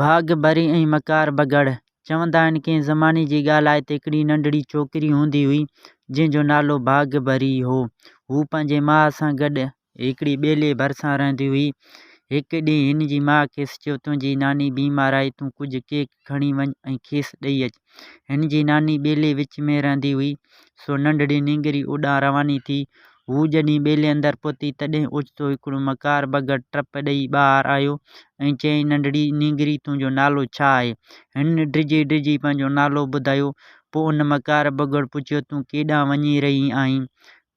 ڀاڳ ڀري ۽ مڪار بگهڙ. چوندا آهن ڪنهن زماني جي ڳالهه آهي ته هڪڙي ننڍڙي ڇوڪري هوندي هئي جنهن جو نالو ڀاڳ ڀري هو. هوء پنهنجي ماء سان گڏ هڪڙي ٻيلي ڀرسان رهندي هئي. هڪ ڏينهن هن جي ماء کيس چيو تنهنجي ناني بيمار آهي تون ڪجهه ڪيڪ کڻي وڃ ۽ کيس ڏئي اچ. هن جي ناني ٻيلي وچ ۾ رهندي هئي، سو ننڍڙي نينگري اوڏانهن رواني ٿي. هو جڏهن ٻيلي اندر پهتي، تڏهن اوچتو هڪڙو مڪار ٻگهڙ ٽپ ڏئي ٻاهر آيو ۽ چيائين، ننڍڙي نينگري، تنهنجو نالو ڇا آهي؟ هن ڊڄي ڊڄي پنهنجو نالو ٻڌايو. پوء ان مڪار ٻگهڙ پڇيو، تون ڪيڏانهن وڃي رهي آهين؟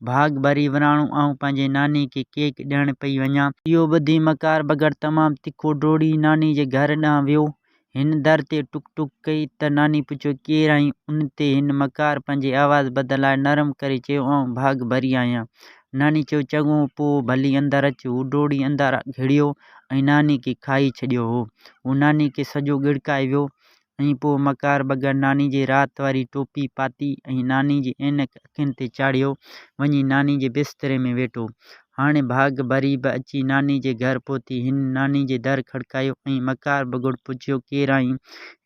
ڀاڳ ڀري وراڻو، آئون پنهنجي ناني کي ڪيڪ ڏيڻ پئي وڃان. اهو ٻڌي مڪار ٻگهڙ تمام تکو ڊوڙي ناني جي گهر ڏانهن ويو. هن در تي ٽڪ ٽڪ ڪئي ته ناني پڇيو ڪير آهين؟ ان تي هن مڪار پنهنجي آواز بدلائي نرم ڪري چيو آئون ڀاڳ ڀري آهيان. ناني چيو چڱو پوء ڀلي اندر اچ. هو ڊوڙي اندر گهڙيو ۽ ناني کي کائي ڇڏيو هو. هو ناني کي سڄو ڳڙڪائي ويو ۽ پوء مڪار بگهڙ ناني جي رات واري ٽوپي پاتي ۽ ناني جي عينڪ اکين تي چاڙهيو وڃي ناني جي بستري ۾ ويٺو. هاڻي ڀاڳ ڀري به اچي ناني جي گهر پهتي. هن ناني جي در کڙڪايو ۽ مڪار بگهڙ پڇيو، ڪير آهين؟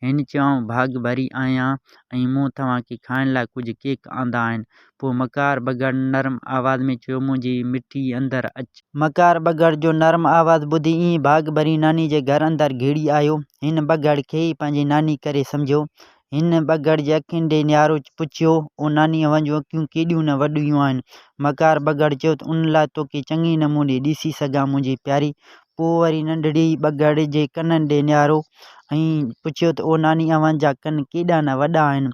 هن چيو، آئون ڀاڳ ڀري آهيان ۽ مون توهان کي کائڻ لاء ڪجهه ڪيڪ آندا آهن. پوء مڪار بگهڙ نرم آواز ۾ چيو، منهنجي مٺي اندر اچ. مڪار بگهڙ جو نرم آواز ٻڌي ائين ڀاڳ ڀري ناني جي گهر اندر گهڙي آيو. هن بگهڙ کي ئي پنهنجي ناني ڪري سمجهيو. هن ٻگهڙ جي اکين ڏي نهاري پڇيو، او ناني اوهان جون اکيون ڪيڏيون نه وڏيون آهن. مڪار ٻگهڙ چيو ته ان لاء توکي چڱي نموني ڏسي سگهان منهنجي پياري. پوء وري ننڍڙي ٻگهڙ جي ڪنن ڏي نهاريو ۽ پڇيو ته او ناني اوهان جا ڪن ڪيڏا نه وڏا آهن.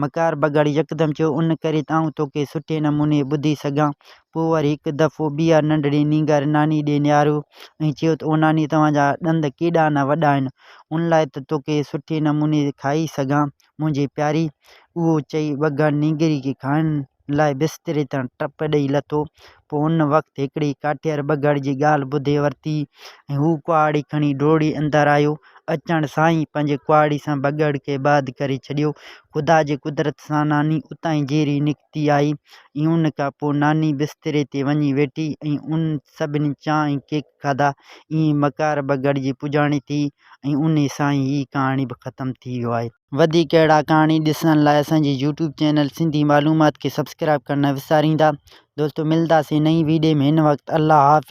مڪار ٻگهڙ يڪدم چيو ان ڪري ته آئون توکي سٺي نموني ٻڌي سگهان پوء وري هڪ دفعو ٻيهر ننڍڙي نينگر ناني ڏي نهاريو ۽ چيو ته او ناني توهان جا ڏند ڪيڏا نه وڏا آهن، ان لاء ته توکي سٺي نموني کائي سگهان منهنجي پياري. اهو چئي ٻگهڙ نينگري کي کائڻ لاء بستري تان ٽپ ڏئي لٿو. پوء ان وقت هڪڙي ڪاٺير ٻگهڙ جي ڳالهه ٻڌي ورتي ۽ هو ڪهاڙي کڻي ڊوڙي اندر آيو. اچڻ سان ئي پنهنجي ڪهاڙي سان ٻگهڙ کي باد ڪري ڇڏيو. خدا جي قدرت سان ناني اتان ئي جيئري نڪتي. ٿي آئي ۽ ان کان پوء ناني بستري تي وڃي ويٺي ۽ ان سڀني چانھ ۽ ڪيڪ کاڌا. ائين مڪار به گڙجي پڄاڻي ٿي ۽ انھي سان ئي ھيء ڪھاڻي به ختم ٿي ويو آھي. وڌيڪ اھڙا ڪھاڻي ڏسڻ لاء اسان جي يوٽيوب چينل سنڌي معلومات کي سبسڪرائيب ڪرڻ نه وساريندا دوستو ملنداسين نئين ويڊيو ۾ ھن وقت الله حافظ.